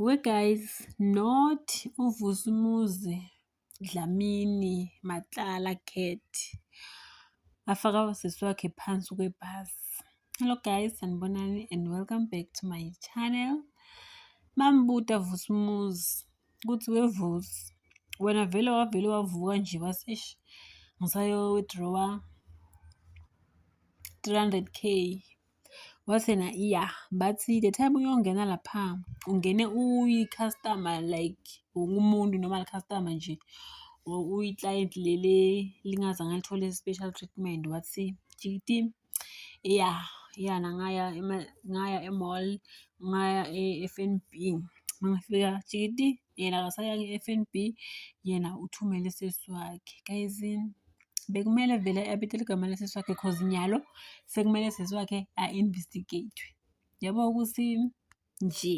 We guys not uvusumuzi dlamini matlala cat afaka usisi wakhe phansi kwebhasi hello guys sanibonani and welcome back to my channel mambuta vusumuzi kuthi wevusi wena vele wavele wavuka nje waseshi ngisayo withdrawa 300k Wathi yena iya bathi the time uyongena lapha ungene uyi-customer like wonke umuntu normal customer nje uyi-client leli lingazange alithole special treatment wathi jikiti iya yana ngaya ngaya e-mall ngaya e-F_N_B mangifika jikiti yena akasayanga i-F_N_B yena uthumele usisi wakhe. Guys bekumele vele abetele igama lesisi wakhe cause nyalo sekumele sisi wakhe a-investigate-we. Yabo ukuthi nje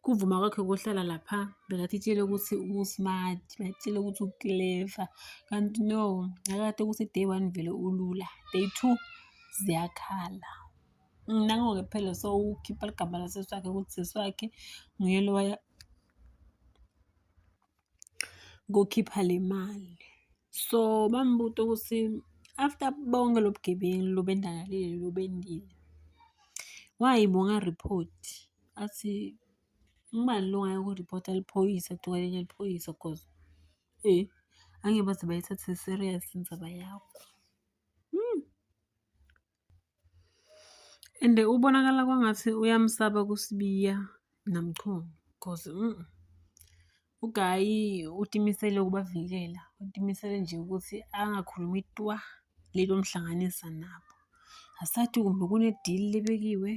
kuvuma kwakhe kohlala lapha bekathi itshele ukuthi u-smart batshele ukuthi u-clever kanti no nakade ukuthi day one vele ulula day two ziyakhala nango-ke phela sowukhipha ligama lasesi wakhe ukuthi sesi wakhe nguye lowaya kokhipha le mali so bambuta ukuthi after bonke lobugebengu lobendakalile lobendile why bonga report athi ngubani lo ngayo kuripota liphoyisa tuka lenye liphoyisa cause eh angeke baze bayithathe serious indaba yakho And ubonakala kwangathi uyamsaba kuSibiya naMchunu cause mm, uGayi utimisele ukubavikela, utimisele nje ukuthi angakhulumi twa leli omhlanganisa nabo. Asathi kumbe kune-deal lebekiwe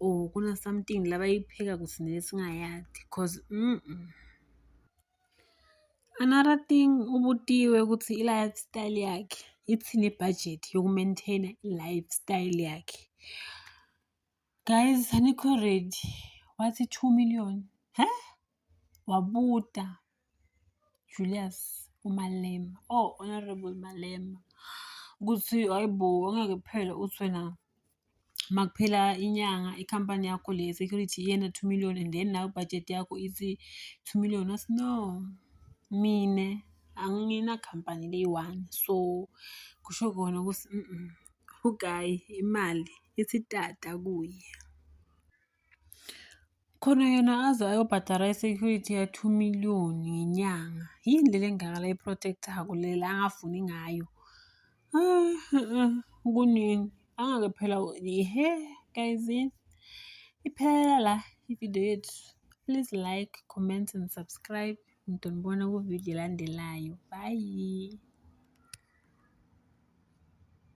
or kuna-something labayipheka kuthi nesingayazi cause mm. Another thing ubutiwe ukuthi i-lifestyle yakhe ithini budget yoku-maintain-a i-lifestyle yakhe. Guys anikho ready wathi two million he wabuta Julius uMalema oh honorable Malema ukuthi hayibo angeke kuphele uthi wena uma kuphela inyanga ikhampani yakho le security iyena two million and then nawe budget yakho ithi two million athi no mina anginakhampani leyi-one so kusho kona ukuthi ugayi imali isitata kuye. Khona yena aze ayobhadara i-security ya-two million ngenyanga. Yini le lengaka la i-protect-ako le la angafuni ngayo? Kunini? Angake phela ihe guys iphelela la ividiyo yethu. Please like, comment and subscribe. Ngidonibona kuvidiyo elandelayo. Bye.